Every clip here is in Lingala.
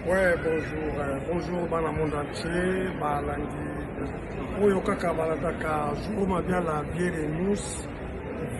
Ouais, bonjour, euh, bonjour bana monde entier, balandi oyo kaka balataka jour mabiala biere de mousse,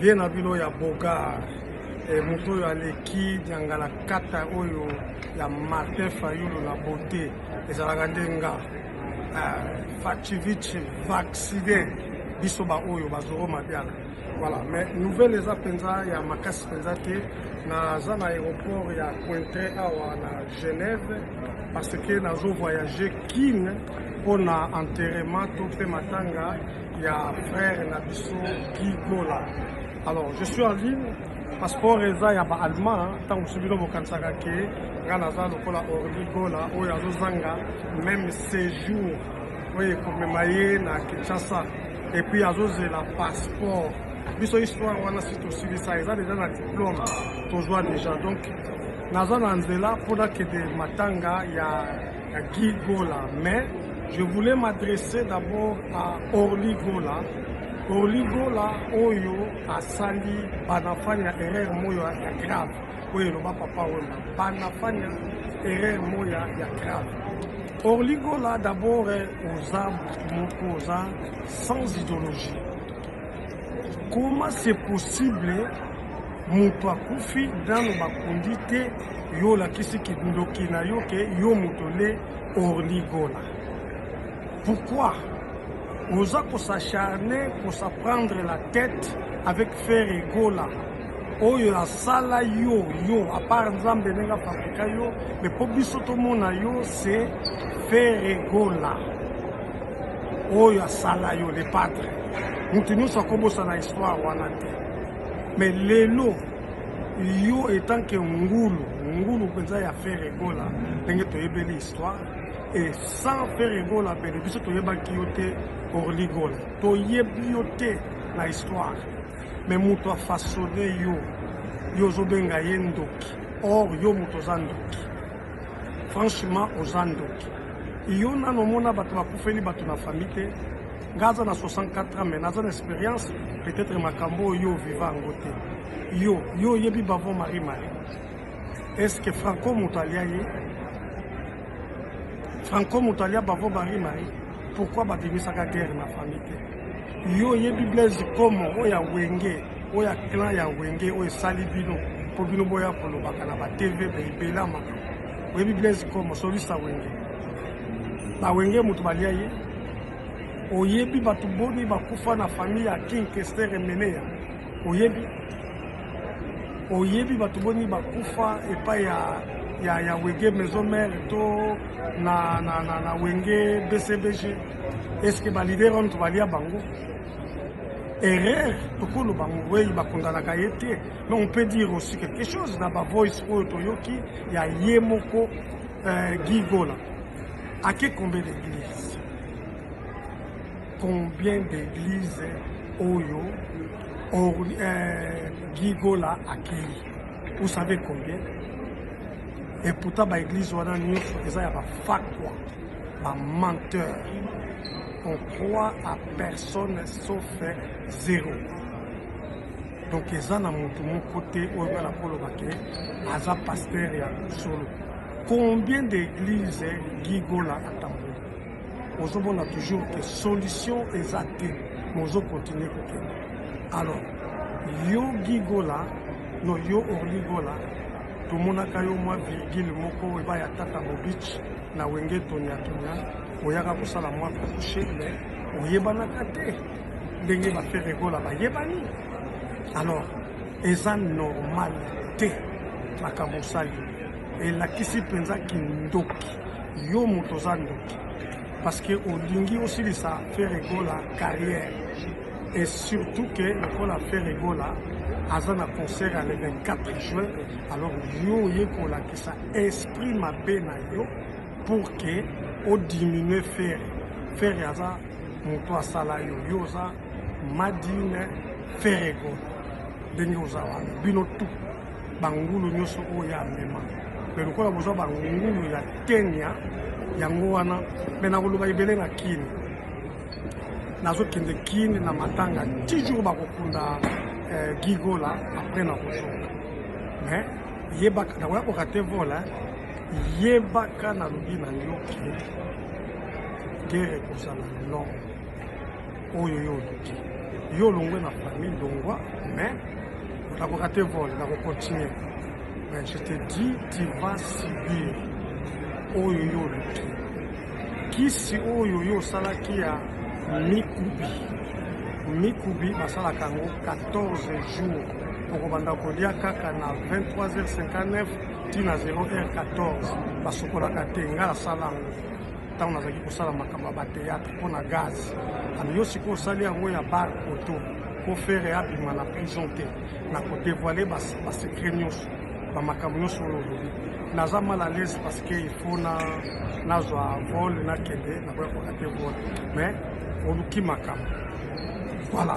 vie na bino ya bogar e, moto oyo aleki diangala kata oyo ya Martin Fayulu na beauté ezalaka nde nga euh, Fachivichi vaccine biso baoyo bazoro mabiala Voilà, mais nouvelle eza mpenza ya makasi mpenza te naza na aéroport ya Cointre awa na Genève parce que nazo voyage Kin mpo na enterrement to mpe matanga ya frère na biso Guy Gola. Alors je suis en ligne passeport eza ya ba allemand ntango mosusu bino bokanisaka ke ngai naza lokola Orly Gola oyo azozanga même séjour oyo ekomema ye na Kinshasa et puis azozela passeport biso histoire wana si tosilisa eza deja na diplome tozwa deja donc naza na nzela mpo nakende matanga ya, ya guy gola mais je voulais m'adresser d'abord à orly gola orly gola oyo asali banafani ya erreur moyo ya grave oyo eloba papa wemba banafani ya erreur moya ya grave Orly Gola d'abord oza moko oza sans ideologie. Comment c'est possible moto akufi nano bakundi te yo olakisi kindoki na yo ke yo moto nde Orly Gola. Pourquoi oza kosacharne kosaprendre la tête avec Ferre Gola oyo asala yo yo apart nzambe ndenge afabrika yo me mpo biso tomona yo se feregola oyo asala yo le patre moto nyonso akobosana histoire wana te me lelo yo etanke ngulu ngulu mpenza ya feregola ndenge toyebeli histoire e sans feregola pene biso toyebaki yo te orligola toyebi yo te na histoire mais moto a façonne yo yo ozobenga ye ndoki or yo moto oza ndoki franchement oza ndoki yo nano omona bato bakufeli bato na famille te nga aza na 64 ans mais naza na expérience peut-être makambo oyo yo viva yango te yo yo oyebi bavo marie marie est ce que franco moto alia ye franco moto alia bavo marie marie pourquoi babimisaka guerre na famille te Yo oyebi Blaise Komo oyo ya Wenge oyo ya clan ya Wenge oyo esali bino mpo bino boya kolobaka na ba TV ebela makambo. Oyebi Blaise Komo solisa Wenge. Ba Wenge moto balia ye. Oyebi bato boni bakufa na famille ya King Kester Emeneya. Oyebi oyebi bato boni bakufa epai ya ya, ya Wenge Maison Mère to na, na, na, na Wenge BCBG. est ce que ba leader wana tobalia bango erreur tokolo bango wei bakondanaka ye te mais on peut dire aussi quelque chose na bavoice oyo toyoki ya ye moko euh, guy gola ake combien d'église combien d'église oyo or, euh, guy gola akei vous savez combien et pourtant baeglise wana nyonso eza ya bafakwa Ba menteur. On croit à personne sauf zero. Donc eza na mutu moko te oyo bana koloba ke aza pasteur ya solo. Combien d'églises Gigola atamboli? Ozomona toujours que solution eza te, mais ozo continuer kokende. Alors yo Gigola no yo Orligola tomonaka yo mwa virgule moko epai ya tata Bobich Na wenge tonya tonya oyaka kosala mwa couche mais oyebanaka te ndenge ba faire egola bayebani alors eza normal te makambo osali elakisi mpenza kindoki yo moto oza ndoki parce que olingi osilisa faire egola carrière et surtout que lokola faire egola aza na concert ya le 24 juin alors yo oye kolakisa Sa esprit mabe na yo pour que o diminuer Ferre. Ferre aza moto asala yo. Yo oza Madine Ferre Gola. Ndenge oza wana. Bino tout. Bangulu nyoso oyo ya mema. Mais lokola boza bangulu ya Kenya yango wana mais nakoloba ebele na Kin. Nazokende Kin na matanga. Toujours bakokunda eh, Gigola après nakozoka. Mais Yebaka na koya koka te vola yebaka na lobi na yo ke gere kozala long oyo yo oluki yo olongwe na famille longwa mais nakoka te vol nakocontinue mais je te dis tu vas subir oyo yo oluki kisi oyo yo osalaki ya mikubi mikubi basalaka yango 14 jours okobanda kolia kaka na 23h59 tii na 0h14 basukolaka te ngai nasala yango ntango nazalaki kosala makambo ya bateatre mpo na gaz ami yo sikoyo osali yango ya bar poto mpo fere abima na prison te na kodevoile basekret nyonso bamakambo nyonso oyo olobi naza mal à l'aise parce que il faut na nazwa vol nakende nakoya kokate vol mais oluki makambo voilà